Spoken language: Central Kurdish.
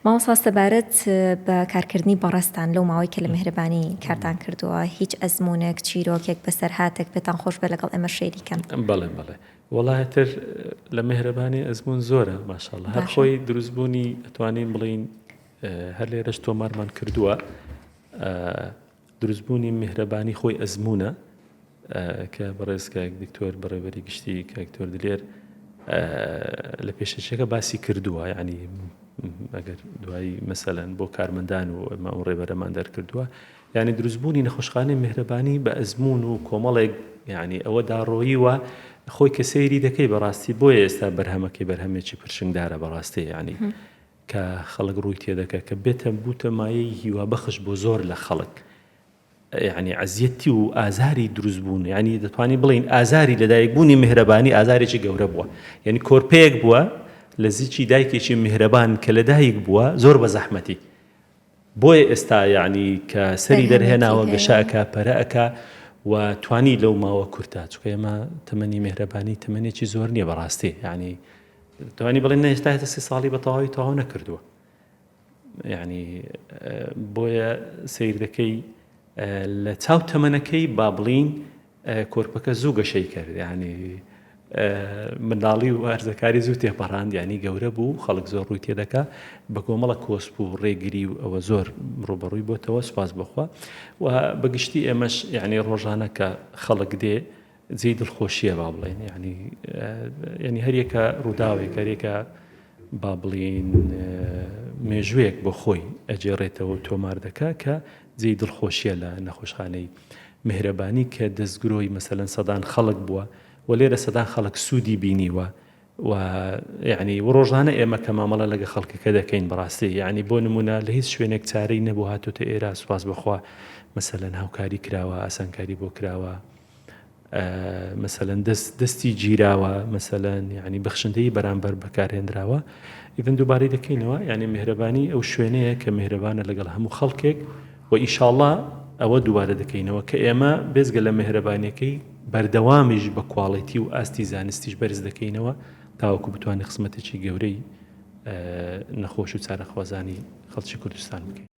مامۆستا سەبارەت بە کارکردنی بەڕێزتان لەو ماوەی کە لە مهرەبانی کارتان کردووە هیچ ئەزمونێک چیرۆکێک بەسەرهاتێک پێتان خۆش بێ لەگەڵ ئێمە شەیری کەن بەڵێ بەڵێ وڵاتر لە مهرەبانی ئەزمون زۆرە ماشاءاللە هەر خۆی دروستبوونی ئەتوانین بڵین هەر لێرەش تۆمارمان کردووە دروستبوونی میهرەبانی خۆی ئەزموونە کە بەڕێز کاک دکتۆر بەڕێوەری گشتی کاک دکتۆر دلێر لە پێشەچەکە باسی کردووە یعنی ئەگەر دوایی مەسەلەن بۆ کارمەندان و ئەمە ئەو ڕێبەرەمان دەرکردووە یعنی دروستبوونی نەخۆشخانەی مهرەبانی بە ئەزمون و کۆمەڵێک یعنی ئەوە داڕۆیی وە خۆی کە سەیری دەکەی بەڕاستی بۆیە ئێستا بەرهەمەکەی بەرهەمێکی پرشنگدارە بەڕاستی یعنی کە خەڵک ڕووی تێدەکە کە بێتە بووتە مایەی هیوا بەخش بۆ زۆر لە خەڵک یعنی عەزیەتی و ئازاری دروست بوون یعنی دەتوانین بڵین ئازاری لەدایک بوونی میهرەبانی ئازارێکی گەورە بووە یعنی کۆرپەیەک بووە لە زیچی دایکێکی میهرەبان کە لەدایک بووە زۆر بە زەحمەتی بۆیە ئێستا یەعنی کە سەری دەرهێناوە گەشە ئەکا پەرە ئەکا و توانی لەو ماوە کورتا چکە ئێمە تەمەنی مێهرەبانی تەمەنێکی زۆر نییە بەڕاستی یعنی توانی بڵێن نەهێشتا هێتە سی ساڵی بە تەواوی تەواو نەکردووە یعنی بۆیە سیر دەکەی لە چاو تەمەنەکەی با بڵین کۆرپەکە زوو گەشەی کرد یعنی منداڵی و هەرزەکاری زوو تێپەڕاند یعنی گەورە بوو خەڵک زۆر ڕووی تێدەکا بە کۆمەڵە کۆسپ و ڕێگری و ئەوە زۆر ڕوبەڕووی بۆتەوە سپاس بخوا و بەگشتی ئێمەش یعنی ڕۆژانە کە خەڵک دێ جێی دڵخۆشیە با بڵێن یعنی ینی هەریەکە ڕووداوێک هەرێکە با بڵین مێژوویەک بۆ خۆی ئەجێڕێتەوە تۆمار دەکا کە جێی دڵخۆشیە لە نەخۆشخانەی میهرەبانی کە دەستگرۆی مەسەلەن سەدان خەڵک بووە و لێرە سەدان خەڵک سوودی بینیوە و یعنی و ڕۆژانە ئێمە کە مامەڵە لەگە خەڵکەکە دەکەین بەڕاستی یعنی بۆ نمونە لە هیچ شوێنێک چارەی نەبوو هاتۆتە ئێرە سوپاس بەخوا مەسەلەن هاوکاری کراوە ئاسانکاری بۆ کراوە مەسەلەن دەست دەستی گیراوە مەسەلەن یعنی بەخشندەی بەرامبەر بەکارهێنراوە ئیدن دووبارەی دەکەینەوە یعنی مهرەبانی ئەو شوێنەیە کە مهرەبانە لەگەڵ هەموو خەڵکێک و ئیشاڵا ئەوە دووبارە دەکەینەوە کە ئێمە بێزگە لە مهرەبانەکەی بەردەوامیش بە کواڵێتی و ئاستی زانستیش بەرز دەکەینەوە تاوەکو بتوانێت خزمەتێکی گەورەی نەخۆش و چارەخوازانی خەڵکی کوردستان بکەین